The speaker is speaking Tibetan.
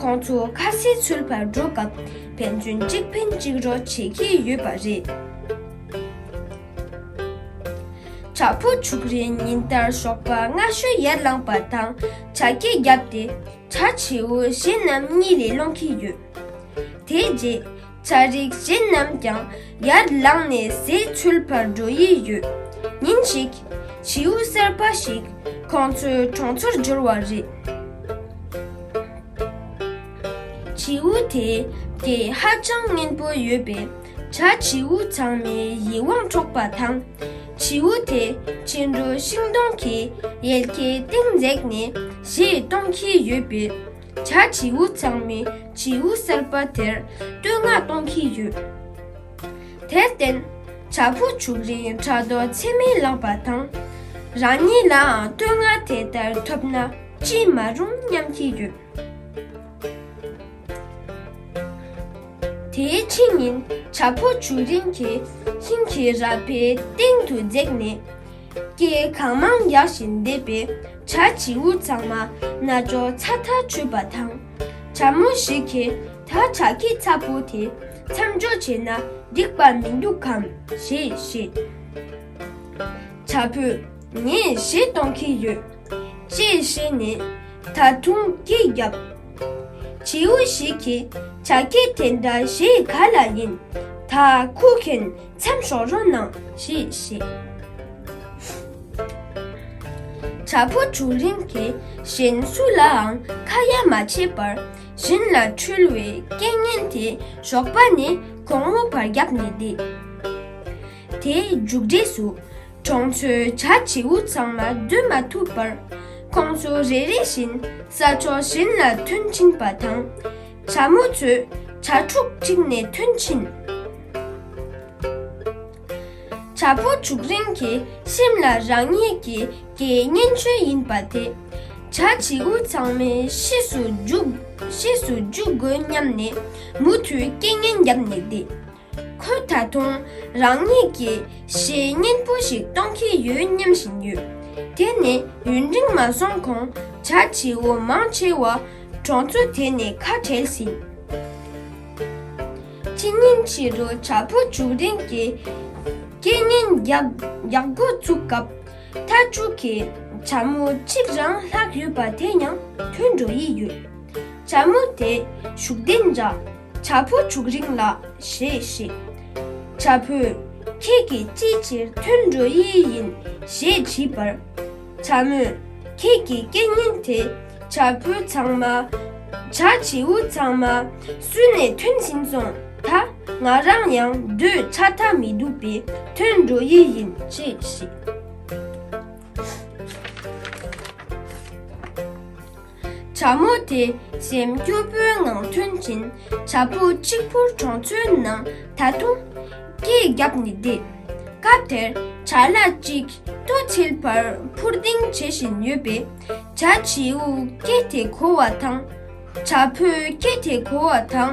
ཁོང་ཚོ་ཁ་སེ་ཚུལ་བར་འགྲོ་སྐབས་ཕན་ཚུན་གཅིག་ཕན་གཅིག་རོགས་བྱེད་ཀྱི་ཡོད་པ་རེད། བྱ་ཕོ་བྱུག་རེ་ཉིན་ལྟར་ཞོགས་པ་སྔ་ཤོས་ཡར་ལངས་པ་དང་བྱ་སྐད་བརྒྱབ་སྟེ་བྱ་བྱེའུ་གཞན་རྣམས་གཉིད་ལས་སློང་གི་ཡོད། དེའི་རྗེས། བྱ་རིགས་གཞན་རྣམས་ཀྱང་ཡར་ལངས་ནས་ཟས་འཚོལ་བར་འགྲོ་ཡི་ཡོད། ཉིན་ཞིག། བྱིའུ་གསར་པ་ཞིག་ཁོང་ཚོའི་གྲོང་ཚོར་འབྱོར་བ་རེད། བྱིའུ་དེས་སྐད་ཧ་ཅང་སྙན་པོ་ཡོད་པས། བྱ་བྱིའུ་ཚང་མའི་ཡིད་དབང་འཕྲོག་པ་དང། བྱིའུ་དེ་ཕྱི་དྲོ་ཤིང་སྡོང་གི་ཡལ་གའི་སྟེང་འཛེགས་ནས་གཞས་གཏོང་གི་ཡོད་པས། བྱ་བྱིའུ་ཚང་མས་བྱིའུ་གསར་པ་དེར་བསྟོད་བསྔགས་གཏོང་གི་ཡོད། དེར་བརྟེན། བྱ་ཕོ་བྱུག་རིང་དྲ་རྡོ་ཚེར་མས་བླངས་པ་དང། རང་ཉིད་ལའང་བསྟོད་བསྔགས་དེ་ལྟར་ཐོབ་ན་ཅི་མ་རུང་སྙམ་གྱི་ཡོད། དེའི་ཕྱི་ཉིན་བྱ་ཕོ་བྱུག་རིང་གིས་ཁྱིམ་གྱི་ར་བའི་སྟེང་དུ་འཛེགས་ནས། སྐྱེས་གང་མང་ཡག་བཞིན་འདེབས་པའི་བྱ་བྱིའུ་ཚང་མ་རྣ་ཅོག་ཚ་ཐག་ཆུད་པ་དང། བྱ་མོ་ཞིག་གིས་ད་བྱ་ཁྱི་ཚ་པོ་དེ་མཚམས་འཇོག་བྱས་ན་འགྲིག་པ་མི་འདུག་གམ་ཞེས་བཤད། བྱ་ཕོས་ངས་བཞེས་གཏོང་གི་ཡོད། ཅེས་བཤད་ནས་ད་དུང་སྐད་བརྒྱབ། བྱིའུ་ཞིག་གིས་བྱ་ཁྱི་དེ་འདྲ་བཞེས་ག་ལ་ཡིན་ད་ཁུག་མཁན་འཚམས་ཤོག་རོ་གནང་ཞེས་བཤད། བྱ་ཕོ་བྱུག་རིང་དེ་བཞིན་སུ་ལའང་ཁ་ཡ་མ་བྱེད་པར་བཞིན་ལ་འཁྲུལ་བའི་སྐད་ངན་དེ་ཞོགས་པ་ནས་གོང་བུ་བར་བརྒྱབ་ནས་བསྡད། དེའི་མཇུག་འབྲས་སུ་གྲོང་ཚོའི་བྱ་བྱིའུ་ཚང་མ་སྡོད་མ་ཐུབ་པར་ཁོང་ཚོ་རེ་རེ་བཞིན་ས་ཕྱོགས་གཞན་ལ་ཐོན་ཕྱིན་པ་དང། བྱ་མོ་མཛོད། བྱ་ཕྲུག་འཁྲིགས་ནས་ཐུན་ཕྱིན། བྱ་ཕོ་བྱུག་རིང་གི་ཤིམ་ལ་རང་ཉིད་ཀྱི་དགེ་བསྙེན་ཆོས་ཡིན་པ་དེ། བྱ་བྱིའུ་ཚང་མའི་གཤིས་སུ་འཇུག་དགོས་སྙམ་ནས་མུ་མཐུད་རྐྱེན་ངན་བརྒྱབ་ནས་བསྡད། ཁོས་ད་དུང་རང་ཉིད་ཀྱི་གཞས་སྙན་པོ་ཞིག་གཏོང་གི་ཡོད་སྙམ་བཞིན་ཡོད། དེ་ནི་ཡུན་རིང་མ་སོང་གོང་བྱ་བྱེའུ་མང་ཆེ་བ་གྲོང་ཚོ་དེ་ནས་ཁ་བྲལ་ཟིན། ཕྱི་ཉིན་ཕྱི་རུ་བྱ་ཕོ་བྱུག་རིང་གི་སྐད་སྙན་རྒྱག་འགོ་བཙུགས་སྐབས་མཐའ་དྲུག་གི་བྱ་མོ་གཅིག་རང་ལྷག་ཡོད་པ་དེ་ཡང་ཐོན་འགྲོ་ཡི་ཡོད། བྱ་མོ་དེ་བྱུག་ལྡན་འདྲ། བྱ་ཕོ་བྱུག་རིང་ལགས་ཞེས་བཤད། བྱ་ཕོས། ཁྱེད་ཀྱིས་ཅིའི་ཕྱིར་ཐོན་འགྲོ་ཡི་ཡིན་ཞེས་དྲིས་པར། བྱ་མོས། ཁྱེད་ཀྱི་སྐད་སྙན་དེ་བྱ་ཕོ་ཚང་མ། བྱ་བྱིའུ་ཚང་མ་སུན་ནས་ཐོན་ཟིན་སོང་ད། ང་རང་ཡང་སྡོད་ཆ་ད་མི་འདུག་པས་ཐོན་འགྲོ་ཡི་ཡིན་ཅེས་བཤད། བྱ་མོ་དེ་སེམས་སྐྱོ་པོའི་ངང་ཐོན་ཅིང་བྱ་ཕོ་གཅིག་ཕུར་གྲོང་ཚོའི་ནང་ད་དུང་སྐད་བརྒྱབ་ནས་བསྡད། སྐབས་དེར་བྱ་གླ་གཅིག་ཏུ་འཁྱིལ་བར་འཕུར་ལྡིང་བྱེད་བཞིན་ཡོད་པས་བྱ་བྱིའུ་སྐད་དེ་གོ་བ་དང་བྱ་ཕོའི་སྐད་དེ་གོ་བ་དང།